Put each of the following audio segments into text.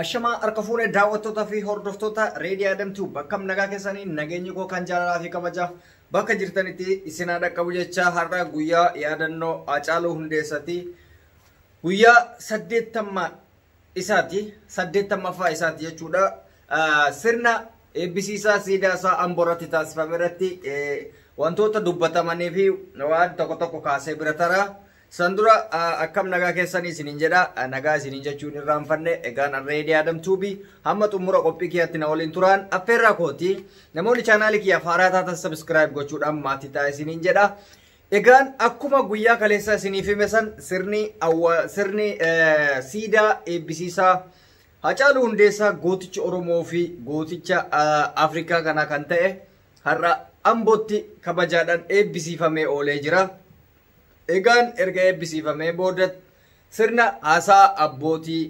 Ashamaa harka fuune daawwattoota fi hordoftoota Reedii Adam Tube bakkam nagaa keessanii nageenyi koo kan jaalalaa fi kabajaa bakka jirtanitti isin haa dhaqqabu jecha har'a guyyaa yaadannoo Haacaaluu Hundeessati guyyaa saddeettamma isaati saddeettammafaa isaati jechuudha sirna eebbisiisaa siidaa isaa amboo irratti taasifame irratti wantoota dubbatamanii fi waan tokko tokko kaasee bira taraa San dura akkam nagaa keessanii isiniin jedha nagaa isiniin jechuun irraanfanne egaan arreedii Adam Tuubi hamma xumura qophii kiyyaatti na waliin turaan affeerraa kooti namoonni chaanaalii kiyyaaf haaraa taatan sabiskiraayib gochuudhaan maatii ta'a isiniin jedha. Egaan akkuma guyyaa kaleessaa isiniif hime san sirni awwa sirni siidaa eebbisiisaa Hacaaluu Hundeessaa gooticha Oromoo fi gooticha Afrikaa kana kan ta'e har'a Ambootti kabajaadhaan eebbisiifamee oolee jira. Egaan erga eebbisiifamee booda sirna haasaa abbootii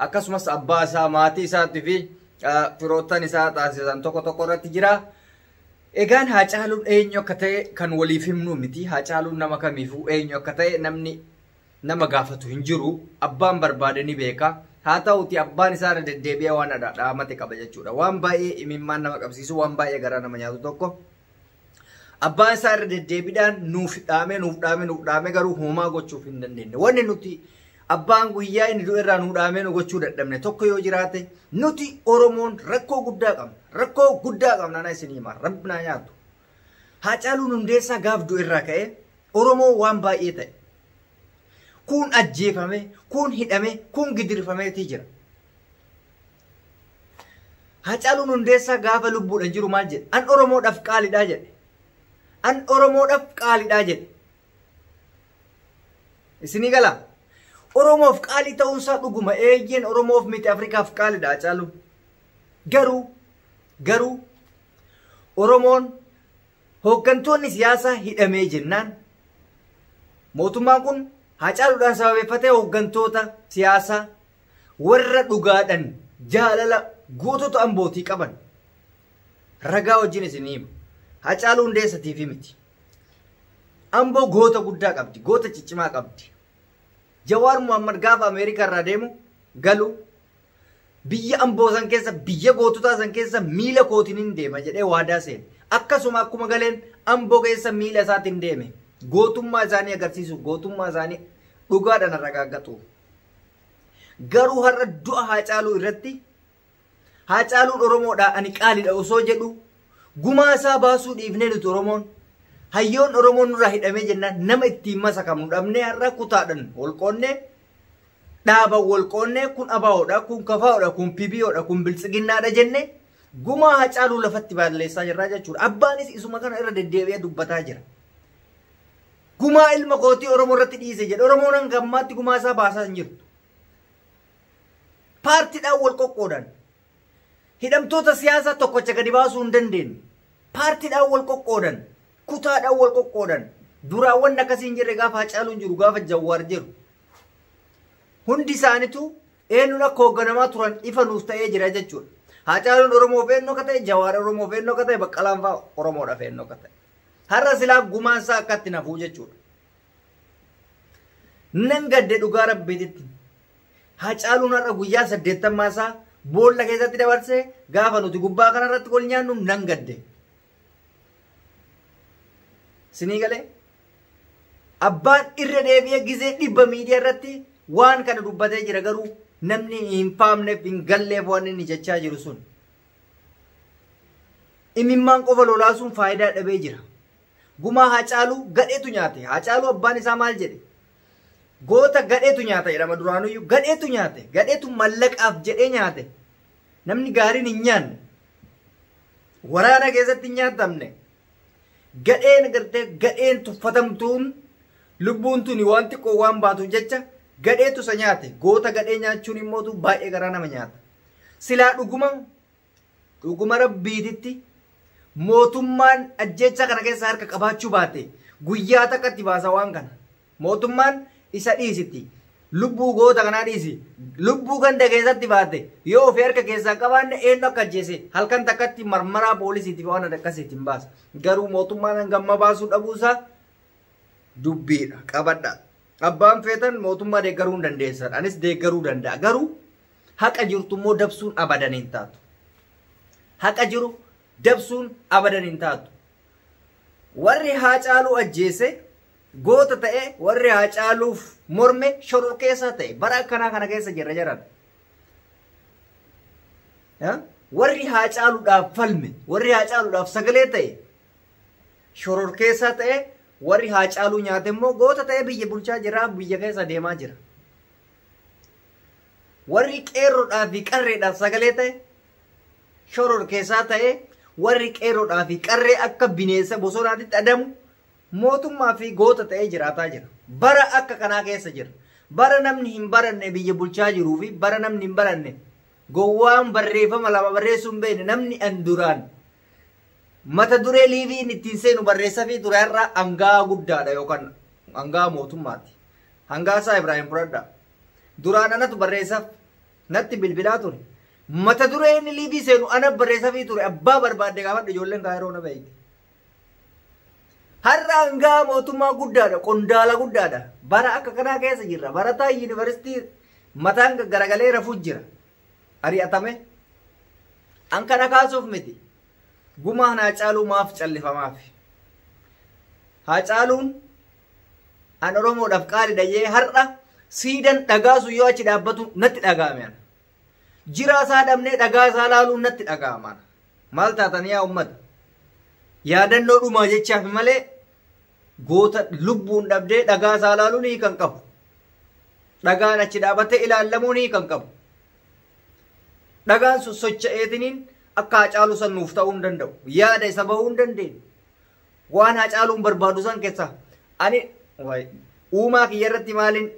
akkasumas abbaa isaa, maatii isaatti fi firoottan isaa taasisan tokko tokko irratti jira. Egaan Haacaaluun eenyu akka ta'e kan waliif himnu miti. Haacaaluun nama kamiifuu eenyu akka ta'e namni nama gaafatu hin jiru. Abbaan barbaade ni beeka. Haa ta'uti abbaan isaa irra deddeebi'ee waan dhaamate qaba jechuudha. Waan baay'ee imimmaan nama qabsiisu, waan baay'ee garaa nama nyaatu tokko. Abbaan isaa irra deddeebiidhaan nuuf dhaamee nuuf dhaamee nuuf dhaamee garuu homaa gochuuf hin dandeenye. Wanni nuti abbaan guyyaa inni du'e irraa nu dhaamee nu gochuu dadhabne tokko yoo jiraate nuti Oromoon rakkoo guddaa qabna. Rakkoo guddaa qabna na isin himaa rabbi naa nyaatu. Haacaaluun hundeessaa gaaf du'e irraa ka'ee Oromoo waan baay'ee ta'e. Kuun ajjeefame, kuun hidhame, kuun gidirfameetii jira. Hacaaluun Hundeessaa gaafa lubbuudhan jiru maal jedhe? An Oromoodhaf qaalidha jedhe. An Oromoodhaf qaalidha jedhe. Isinii gala? Oromoof qaalii ta'uunsaa dhuguma eeyyeen Oromoof miti Afrikaaf qaalidha Hacaaluun. Garuu garuu Oromoon hooggantoonni siyaasaa hidhamee jennaan mootummaan kun Hacaaluudhaan sababeeffatee hooggantoota siyaasaa warra dhugaadhan jaalala gootota ambootii qaban ragaa wajjin isin hima hacaaluu hundeessatiif miti amboo goota guddaa qabdi goota ciccimaa qabdi jawaar muhammad gaafa ameerikaa irraa deemu galu biyya amboo san keessa biyya goototaa san keessa miila kootiin hin deema jedhee waadaa seene akkasuma akkuma galeen amboo keessa miila isaatiin deeme gootummaa isaanii agarsiisuuf gootummaa isaanii dhugaadhaan ragaaggaxuuf Garuu har'a du'a Haacaaluu irratti Haacaaluun Oromoodhaa ani qaalidha osoo jedhu gumaa isaa baasuu dhiifnee nuti Oromoon hayyoon Oromoon nurraa hidhamee jennaan nama ittiin masakamnu dhabnee har'a kutaadhan wal qoonnee dhaaban wal qoonnee kun abaa'oodha kun kafaa'oodha kun pibiyoodha kun biltsiginnaadha jenne gumaa Haacaaluu lafatti baalleessaa jirraa jechuudha. Abbaanis isuma kana irra deddeebi'ee dubbataa jira. Gumaa ilma kootii Oromoo irratti dhiise jedhe. Oromoon hanga ammaatti gumaa isaa baasaa hin jirtu. Paartiidhaan wal qoqqoodan. Hidhamtoota siyaasaa tokkocha gadi baasuu hin dandeenye. Paartiidhaan wal qoqqoodan. Kutaadhaan wal qoqqoodan. Duraan wanni akkasii hin jirre gaafa Hacaaluun jiru gaafa Jawwaar jiru. Hundi isaanitu eenyuun akka hoogganamaa turan ifa nuuf ta'ee jira jechuudha. Hacaaluun Oromoof eenyu akka ta'e, Jawaar Oromoof eenyu akka ta'e, Baqqalaan fa'aa Oromoodhaaf eenyu akka ta'e. Har'a silaa gumaan isaa akkatti nafuu jechuudha. Nan gadde dhugaa rabbiititti. Hacaaluun har'a guyyaa saddeettammaa isaa boolla keessatti dabarsee gaafa nuti gubbaa kanarratti wal nyaannu nan gadde. Sinii galee? Abbaan irra deebi'ee gizee dhibba miidiyaa irratti waan kana dubbatee jira garuu namni hin faamneef hin galleef waan inni jechaa jiru sun. Imimmaan qofa lolaasuun faayidaa dhabee jira. Gumaa Haacaaluu gadheetu nyaate. Haacaaluu abbaan isaa maal jedhe? Goota gadheetu nyaata jedhama duraanuyyuu. Gadheetu nyaate. Gadheetu mallaqaaf jedhee nyaate. Namni gaariin hin nyaanne. Waraana keessatti hin nyaatamne. Gadheen gartee gadheen tuffatamtuun lubbuun tuni waan xiqqoo waan baatuuf jecha gadheetu isa nyaate. Goota gadhee nyaachuun immoo baay'ee garaa nama nyaata. Silaa dhuguma Dhuguma Rabbiititti mootummaan ajjeechaa kana keessa harka qabaachuu baate guyyaa takka itti baasa waan kana. Mootummaan isa dhiisitti lubbuu goota kanaa dhiisi lubbuu ganda keessatti baate yoo ofii harka keessaa hin qabaanne eenyu akka ajjeese halkan takkatti marmaraa poolisiitiif waan adda akkasiitti hin baasa. Garuu mootummaan hangamma baasuu dhabuusaa dubbiidha qabadha. Abbaan feetan mootummaa deeggaruu hin dandeessan anis deeggaruu danda'a garuu Haqa jirtu immoo dabsuun abadan hin taatu. Haqa jiru dabsuun abadan hin taatu. Warri Haacaaluu ajjeese goota ta'e warri Haacaaluuf morme shororkeessaa ta'e bara akkanaa kana keessa jirra jedhan. Warri Haacaaluudhaaf falme warri Haacaaluudhaaf sagalee ta'e shororkeessaa ta'e warri Haacaaluu nyaate immoo goota ta'e biyya bulchaa jira biyya keessa deemaa jira. Warri qeerrodhaa fi qarreedhaaf sagalee ta'e, shororkeessaa ta'e, warri qeerrodhaa fi qarree akka bineensa bosonaatitti adamu mootummaa fi goota ta'ee jiraataa jira. Bara akka kanaa keessa jira. Bara namni hin baranne biyya bulchaa jiruu fi bara namni hin baranne gowwaan barreeffama lama barreessuu hin beekne namni an duraan Mata duree liiviin ittiin seenu barreessafii ture har'a anga'aa guddaadha yookaan anga'aa mootummaati. Hangaasaa Ibraahim Buradhaa. Duraan anatu barreessaf natti bilbilaa ture. Mata duree inni liivii seenu ana barreessafii ture abbaa barbaadde gaafadhu ijoolleen kaayiroo na beekti. Har'a anga'aa mootummaa guddaadha qondaala guddaadha. Bara akka kanaa keessa jirra. Barataa yuunivarsiitii mataan garagalee rafuu jira. ari'atame? An kana kaasuuf miti. Gumaan Haacaaluu maaf callifamaaf? Haacaaluun an Oromoodhaaf qaali dhayyee har'a siidan dhagaa sun yoo achi dhaabbatu natti dhaga'ame ana. Jiraa isaa dhabnee dhagaa isaa laaluun natti dhaga'ama ana. Maal taatan yaa uummata? Yaadannoo dhumaa jechaaf malee goota lubbuun dhabdee dhagaa isaa ilaaluun hiika hin qabu. Dhagaan achi dhaabatee ilaallamuun hiika hin qabu. Dhagaan sun socha'eetiniin akka hacaaluu san nuuf ta'uu hin danda'u. Yaada isa bahuu hin dandeenye. Waan hacaaluun barbaadu san keessaa ani waay, uumaa kiyya irratti maaliin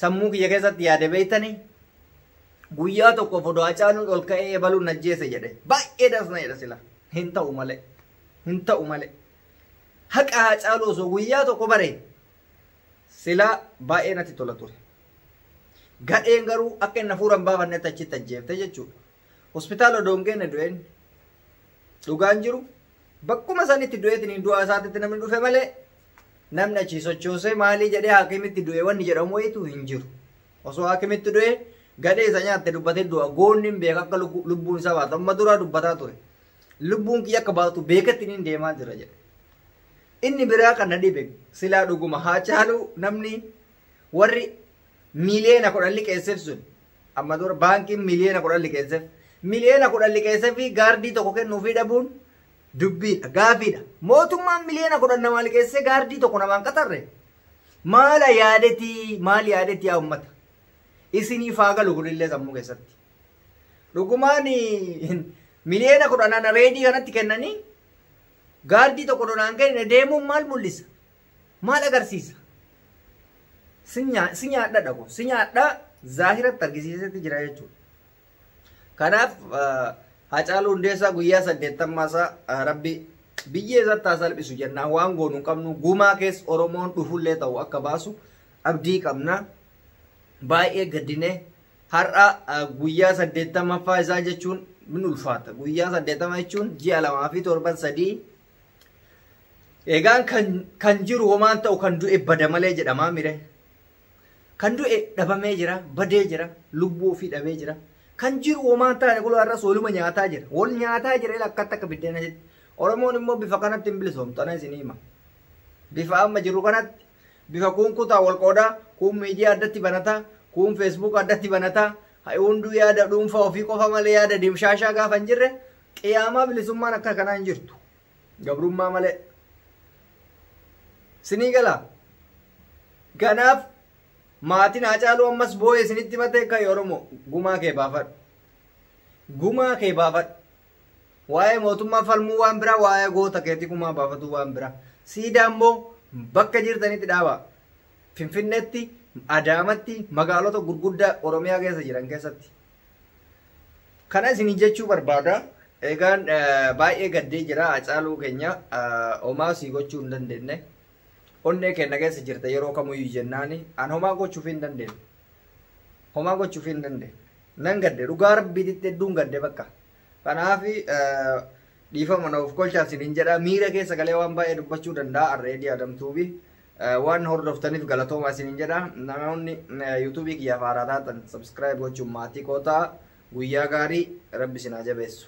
sammuu kiyya keessatti yaade beektanii guyyaa tokko fodoo hacaaluun ol ka'ee ebaluun najjeese jedhe baay'ee dasna jedha sila hin ta'u malee hin ta'u malee Haqa Haacaaluu osoo guyyaa tokko bare silaa baay'ee natti tola ture. Gadheen garuu akka inni hafuura hin baafannetti achitti ajjeefte jechuudha. Hospitaala odoo hin geenne du'een dhugaan jiru bakkuma sanitti du'eetiin du'aa isaatitti namni dhufe malee namni achii sochoosee maalii jedhee haakimitti du'e wanni jedhamu wayitu hin jiru. Osoo haakimitti du'e gadhee isa nyaatte dubbatee du'a goonni hin beeka akka lubbuun isaa baatu amma duraa dubbataa ture. Lubbuun kiyya akka baatu beeketti niin deemaa jira jedhe. Inni biraa kan na dhibe silaa dhuguma haa caaluu namni warri miiliyoona kudhan liqeesseef sun amma dura baankiin miiliyoona kudhan liqeesseef miiliyoona kudhan liqeesseef fi gaardii tokko kennuufii dhabuun dubbiidha gaafiidha mootummaan miiliyoona kudhan namaa liqeessee gaardii tokko namaan qaxarre maala yaadetii maal yaadetii yaa ummata isiniif haa galu kunillee sammuu keessatti Dhugumaan miliyoona kudhan ana reedii kanatti kennanii gaardii tokko donaan kenne deemuun maal mul'isa? Maal agarsiisa? Si nyaa- si nyaadha dhago. Si nyaadha zaahiratti argisiisetti jira jechuudha. Kanaaf eh, Hacaaluu Hundeessaa guyyaa saddeettammaa isaa eh, rabbi biyyee isatti haa salphisu jennaa waan goonu hin qabnu gumaa keessa Oromoon dhufullee ta'u akka baasu abdii qabna. Baay'ee gaddinee Har'a guyyaa 80ffaa isaa jechuun min ulfaata. Guyyaa 80 jechuun ji'a lamaa fi torban sadii. Egaan kan, kan jiru homaan ta'u kan du'e bada malee jedhamaa mire. Kan du'e dhabamee jira, badee jira, lubbuu ofii dhabee jira. Kan jiru homaan taane kun har'as waluma nyaataa jira. Wal nyaataa jira ila akkatti akka biddeena jetti. Oromoon immoo bifa kanatti hin bilisoomtu ana isinii hima. Bifa amma jiru kanatti Bifa kuun kutaan wal qooda, kuun media addatti banata, kuun facebook addatti banata, ha hunduu yaada dhuunfaa ofii qofa malee yaada dimshaashaa gaafa hin jirre qiyaamaa bilisummaan akka kanaa hin jirtu. Gabrummaa malee. Sinii galaa? Kanaaf maatiin Haacaaluu ammas booye isinitti matee ka'i Oromoo gumaa kee baafadhu. Gumaa kee baafadhu. Waa'ee mootummaa falmuu waan biraa waa'ee goota keetii kumaa baafatuu waan biraa. Siidaa immoo bakka jirtanitti dhaabaa. Finfinneetti, Adaamatti, magaalota gurguddaa Oromiyaa keessa jiran keessatti. Kana isin jechuu barbaada. Egaan baay'ee gaddee jira Hacaaluu keenya homaa sii gochuu hin dandeenye. Onnee keenya keessa jirta yeroo kamiyyuu jennaani an homaa gochuuf hin dandeenye. Homaa gochuuf hin dandeenye. nan gadde dhugaa rabbiititti hedduun gadde bakka kanaaf dhiifama na of kolchaa sinin jedha miira keessa galee waan baay'ee dubbachuu danda'a arreedii adamtuubi waan hordoftaniif galatoomaa sinin jedha namoonni yuutuubii kiyyaaf haaraa taatan sabskiraayib gochuun maatii kootaa guyyaa gaarii rabbi sinaa jabeessu.